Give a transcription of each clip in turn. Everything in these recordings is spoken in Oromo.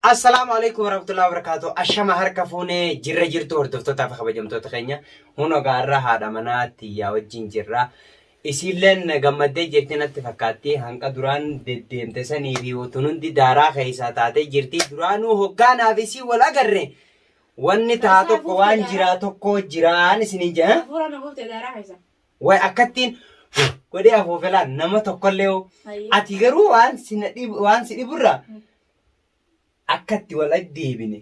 Assalaamu alaikum warahmatullahi wabarakatuh. Ashama harka fuune jirra jirtu hordoftootaa fi kabajamtoota keenya. Huno gaarra haadha manaa tiyyaa wajjin jirra. Isiilleen gammaddee jirti natti fakkaatti. Hanqa duraan deddeemte sanii fi utuun hundi daaraa keessaa taatee jirti. Duraanuu hoggaanaa fi isii wal agarre wanni taa tokko waan jiraa tokko jiraan isiniin jedha. Hafuura na buufte daaraa keessa. Way akkattiin godhee afuufelaan nama tokkollee hoo. Ati garuu waan si na dhib- waan si dhiburraa akka itti wal deebine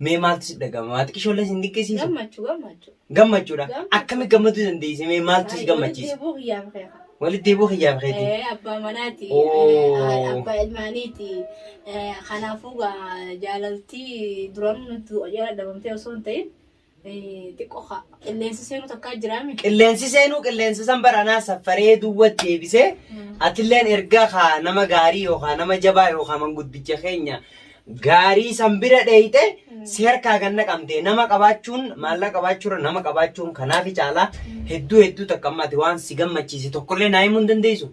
mee maaltu si dhagama maati qishoollee sin dinqisiisu Gammachuu gammachuu. gammachuudha Gammachuu. akkamitti gammaduu dandeesse mee maaltu si gammachiisa Deebuu kiyyaaf keeka. walitti deebuu kiyyaaf keeti Eh, abbaa manaati Oo. eh, abbaa ilmaaniiti Eh, kanaafuu gaa jaalaltii duranuu nutti jala dhabamtee osoo hin ta'in Xiqqoo haa. Qilleensi seenuu takkaa jiraa mi? Qilleensi seenuu qilleensa san baranaa saffaree duwwa deebisee atilleen erga kaa nama gaarii yookaan nama jabaa yookaan manguddicha keenya gaarii san bira dheeyxe si harkaa kan naqamte nama qabaachuun maallaqa qabaachuurra nama qabaachuun kanaafi caalaa hedduu hedduu takka amma ati waan si gammachiise tokkollee naa himuu hin dandeessu.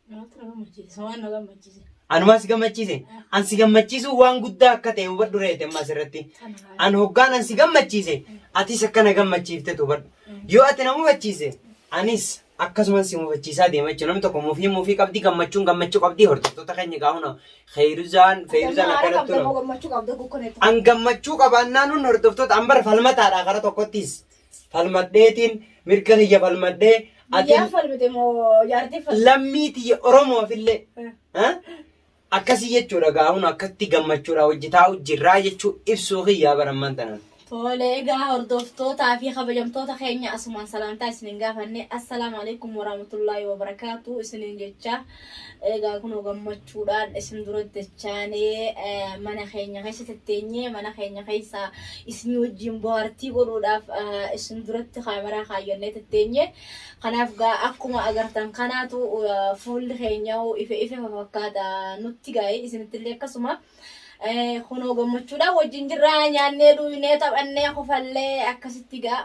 Namatti na gammachiisa. Waan na gammachiise. Anumaa si gammachiise. An si gammachiisuun waan guddaa akka ta'e hubadhu reete amma asirratti. Kana haala. An hoggaan an si gammachiise atis akka na gammachiiftetu hubadhu. Yoo ati na mufachiise anis akkasuman si mufachiisaa deema jechuudha. Namni tokko mufii mufii qabdi gammachuun gammachuu qabdi hordoftoota keenya gaahuna. Keeyruzaan Feeyruzaan Haala akkanatti qabda moo gammachuu qabda gukkuneetti. An gammachuu qabaannaan hun hordoftoota an bara falmataadha gara tokkottis. falmadheetiin mirga kiyya falmadhee Biyyaa ati falmite moo jaartii falmite? lammii tiyya Oromoof illee ha? akkasii jechuudha gaa'uun akkatti gammachuudha hojii taa'u jirraa jechuu ibsuu kiyyaa baramman tanan. Tole egaa hordoftootaa fi kabajamtoota keenya asumaan salaamtaa isinin gaafanne assalaamu alaikum warahmatullaahi wabarakaatu isinin jechaa Egaa kunoo gammachuudhaan isin duratti dachaanee mana keenya keessa tetteenyee mana keenya keessa isinii wajjin bohaartii godhuudhaaf isin duratti kaameraa kaayyannee tetteenye. Kanaaf gaa akkuma agartan kanaatu fuulli keenya ife ife fakkaata nutti gaa'e isinitti illee akkasuma. Kunoo gammachuudhaan wajjin jirra nyaannee dhugnee taphannee kofallee akkasitti gaa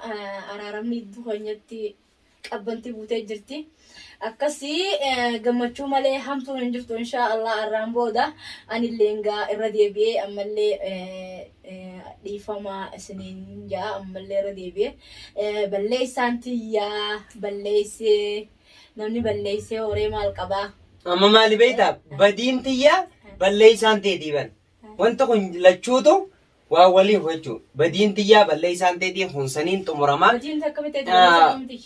araaramni iddoo keenyatti qabbanti buutee jirti. Akkasii gammachuu malee hamtuun hin jirtu inshaa Allah arraan booda anillee egaa irra deebi'ee ammallee dhiifamaa isiniin ja'a ammallee irra deebi'ee balleessaan tiyyaa balleessee namni balleessee horee maal qabaa. Amma maali beektaa badiin tiyyaa balleessaan teetii bar. Wanti kun lachuutu Waa waliin hochu badiin tiyyaa balleessaan teetii kun saniin xumurama. Hojiin takka bitee Ah. dalagaa humti.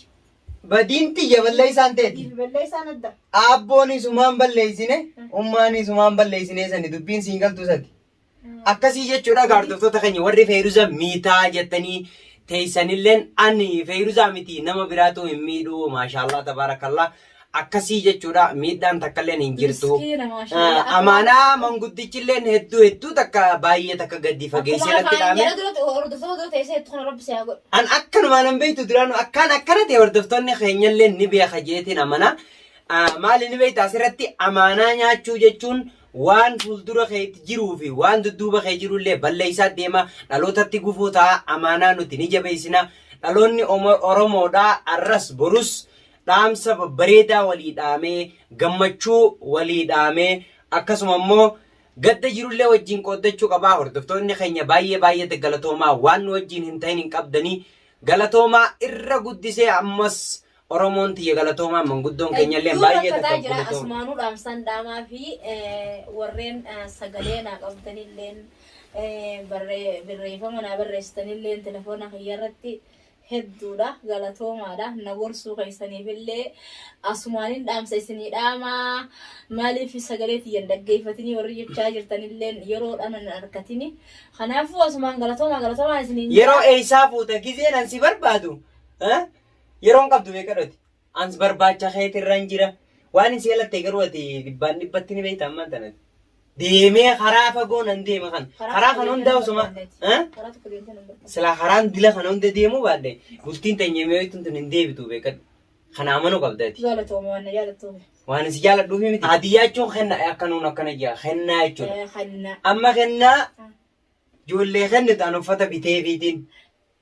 Badiin tiyya balleessaan teeti. Balleessaan adda. Aabboon isumaan balleessine ummaan isumaan balleessine sani dubbiin siin galtu sati. Akkasii jechuudha gaardoftoota keenya warri feeruza miitaa jettanii teessanilleen ani feeruza miti nama biraatu hin miidhu maashaallah tabaarakallaa akkasii jechuudha miidhaan takkalleen hin jirtu. Miskiina, maashaallah. Ah, Amaanaa manguddichilleen hedduu hedduu takka baay'ee takka gadi fageessee natti Akkuma dhaame. kana dura hordoftoota dura teessee jettu kana rabbi si haa godhu. An akkanumaan hin beektu duraanu akkaan akkana ta'e hordoftoonni keenyallee ni beeka jeetiin amana. Ah, Maali ni beekta asirratti amaanaa nyaachuu jechuun waan fuuldura keetti jiruu fi waan dudduuba kee jirullee balleessaa deema dhalootatti gufuu ta'a amaanaa nuti ni jabeessina dhaloonni Omo- Oromoodhaa arras borus dhaamsa babbareedaa walii dhaamee, gammachuu walii dhaamee, akkasuma immoo gadda jirullee wajjin qooddachuu qabaa. Hordoftoonni keenya baay'ee baay'ee galatoomaa waan nu wajjin hin ta'in hin qabdanii galatoomaa irra guddisee ammas Oromoon tiyya galatoomaa manguddoon keenyallee Hedduu baay'ee rakkataa takka jira galatooma. asumaanuu dhaamsaan dhaamaa fi eh, warreen eh, sagalee naa qabdanilleen eh, barree- barreeffama naa barreessitanilleen telefoona kiyya irratti hedduudha galatoomaadha na gorsuu keessaniif illee asumaanin dhaamsa isinii dhaamaa maaliif sagalee tiyyan dhaggeeffatanii warri jechaa jirtan illee yeroodhaan hin argatini kanaafuu asumaan galatoomaa galatoomaa isiniin jedha. Yeroo eessaa fuuta gizeen an si barbaadu eh? yeroon qabdu meeqa dhoti? Ans barbaacha keetirran jira. Waanin si yalatte garuu ati dhibbaan dhibbatti ni beekta ammaan tanatti. Deemee karaa fagoo nan deema kan. Karaa kan hundaa osuma. Eh? Karaa tokko deemtee nan barbaada. Silaa karaan dila kana hunda deemuu baadhe bultiin teenya mi'ooytuun tun hin deebitu beekadhu. Kana amanuu qabda ati. Jaalatoome waan na jaalattuuf. Waan si jaaladhuuf miti. Haadiyyaa jechuun kenna akka nuun akkana jira. Kennaa jechuudha. Eh, Hanna. Amma kennaa ijoollee kennitu an uffata bitee fiitiin.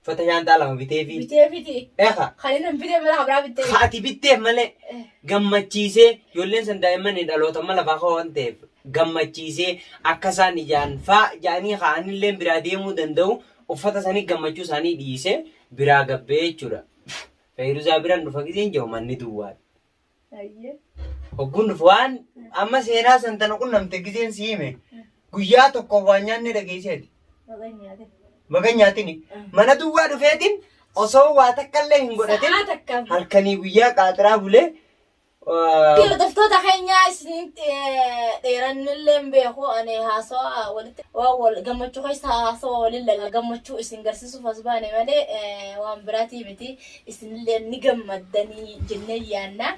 Uffata shaanxaa lama biteefi. Bitee fiti. Eha. Kan inni hin bitee mala habraa bitee. Ka ati bitteef malee gammachiisee ijoolleen san daa'imman hin dhalootan mala fa'aa waan ta'eef gammachiisee akka isaan ijaan faa ja'anii kaa'anillee biraa deemuu danda'u uffata sanii gammachuu isaanii dhiisee biraa gabbee jechuudha. Feeruzaa biran dhufa giseen jiru manni duwwaadha. Ayyee. Hogguun dhufu waan amma seenaa san tana qunnamte giseen si hime guyyaa tokkoof waan nyaannee dhageesseeti. Maqaan nyaate. Maqaan nyaatini mana duwwaa dhufeetiin osoo waa takkallee hin godhatin Sa'aa takkaaf. halkanii guyyaa qaaxiraa bulee ah, Hordoftoota keenyaa isinitti eh, dheerannillee hin beeku ani haasawaa walitti waan wal gammachuu keessa haasawaa waliin lalla gammachuu isin garsiisuuf as baane malee eh, waan biraatii miti isinillee ni gammaddanii jennee yaanna.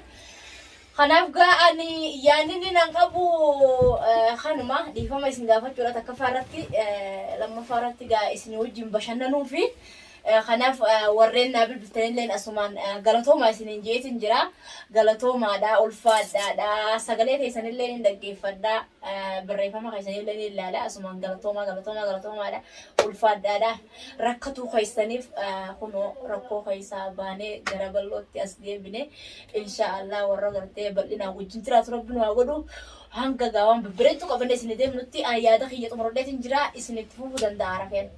Kanaaf gaa ani yaanni nan qabu kanuma dhiifama isin gaafachuudha takkaffaa irratti lammaffaa irratti gaa isin wajjin bashannanuu fi kanaaf warreen naa bilbiltanillee asumaan galatoomaa isiniin jeetiin jira. Galatoomaadha, ulfaadhaadha, sagalee keessanillee ni dhaggeeffadha, barreeffama keessanillee ni ilaala asumaan galatoomaa galatoomaa galatoomaadha, ulfaadhaadha. rakkatuu keessaniif kunoo rakkoo keessaa baanee gara bal'ootti as deebine insha Allah warra gartee bal'inaan wajjin jiraatu rabbi nu haa godhu hanga gaawaan babbareedduu qabannee isin deemnutti ani yaada kiyya xumuradheetiin jira isin itti fufuu danda'a rafeen.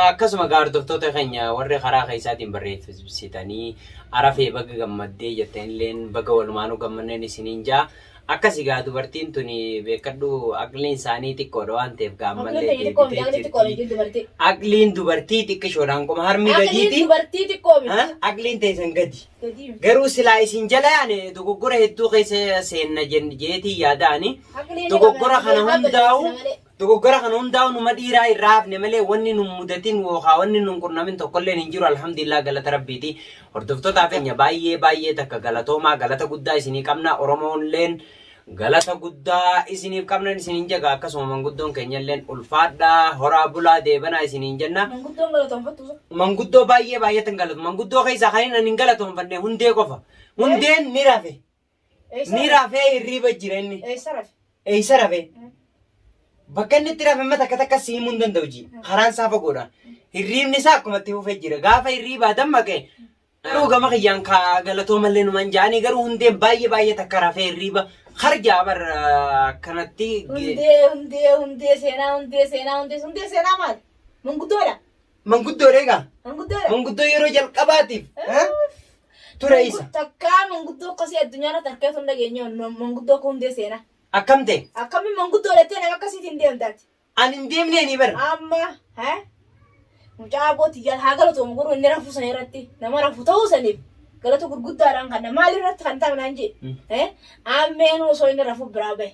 Akkasuma gaa hordoftoota keenya warri karaa keessaatiin barreessitanii arafee baga gammaddee jettanilleen baga walumaanuu gammanneen isiniin jaa. Akkasi gaa dubartiin tuni beekkadhu aqliin isaanii xiqqoodha waan ta'eef gaa Aqliin ammallee tayya xiqqoo miti, deebitee aqliin xiqqoo jirti. miti, dubartii. Aqliin dubartii xiqqishoodha hanquma harmi Aqliin gadiiti. dubartii xiqqoo miti. Ha? Aqliin teessan gadi. Gadii miti. Garuu silaa isin jala yaane dogoggora hedduu keessa seenna jen- jeetii yaadaani. Aqliin ni Dogoggora qabna, kana haa balleessina hundaa'u malee. Dogoggora kana hundaa'u numa dhiiraa irraa hafne malee wanni nun mudatin wookaa wanni nun qunnamin tokkolleen hin jiru alhamdulillah galata rabbiiti. Hordoftotaa keenya baay'ee baay'ee takka galatoomaa galata guddaa isinii qabna Oromoonleen galata guddaa isiniif qabnan isinin jaga akkasuma manguddoon keenyalleen ulfaadhaa horaa bulaa deebanaa isiniin jenna. Manguddoon galatoonfattu isa. Manguddoo baay'ee baay'eetan galatu manguddoo keessaa kanin ani hin galatoonfanne hundee qofa hundeen ni rafe. Ni rafee hirriiba jira inni. Eessa rafe? Eessa rafe? Bakka inni itti rafe amma takka takka si himuu hin danda'u ji. Karaan isaa fagoodha. Hirriibni isaa akkuma itti fufee jira. Gaafa hirriibaa dammaqe garuu gama kiyyaan ka galatoomallee numan ja'anii garuu hundeen baay'ee baay'ee takka rafee hirriiba harjaa bar akkanatti ge- Hundee, hundee, hundee, seenaa, hundee, seenaa, hundee, hundee, seenaa maali? Munguddoodha. Manguddoo dheegaa. Manguddoo dha. Manguddoo yeroo jalqabaatiif eh, ture isa. Takkaa manguddoo akkasii addunyaa irratti harkee osoo hin dhageenye manguddoo akka hundee seenaa. Akkam ta'e? Akkamiin manguddoo dhattee nama akkasiitiin hin deemtaati. An hin deemnee ni bara. Amma eh, mucaa abbootii jala haa galatoomu garuu inni rafuu sana irratti nama rafu ta'uu saniif galata gurguddaadhaan kan maal irratti kan ta'u naan jedhe. Eh, ammeen osoo inni rafuu biraa bahe.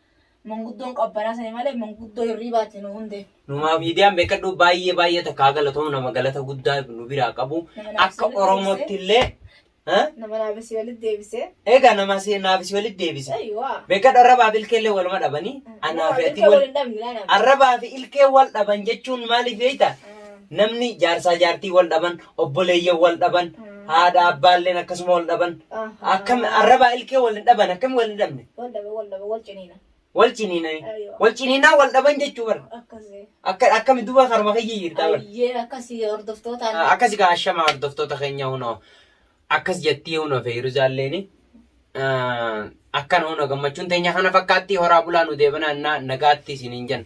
Manguddoon qabbanaa sani malee manguddoo hirriibaati nu hundee. Numaa miidiyaan beekadhuu baay'ee baay'ee takkaa galatomu nama galata guddaa nu biraa qabu akka Oromootti illee nama naafisii walitti deebisee. Egaa nama naafisii walitti deebise. Beekadhu arrabaa fi ilkee illee waluma dhabanii. Anaa fi ati wal arrabaa fi ilkee wal dhaban jechuun maaliif beekta? Namni jaarsaa jaartii wal dhaban obboleeyyan wal dhaban haadha abbaalleen akkasuma wal dhaban akkam arrabaa ilkee wal hin dhaban akkam wal hin dhabne wal dhabe wal dhabe wal ciniina wal ciniinani Ayyo. wal ciniinaa wal dhaban jechuu bara akkasii akka akkami duba karma kiyya jirtaa bara ayyee akkasii hordoftootaan akkasi kaa ashama hordoftoota keenya hunoo akkas jettii hunoo feeyiruzaalleeni akkana hunoo gammachuun teenya kana fakkaatti horaa bulaa nu deebanaa nagaatti isiniin jenna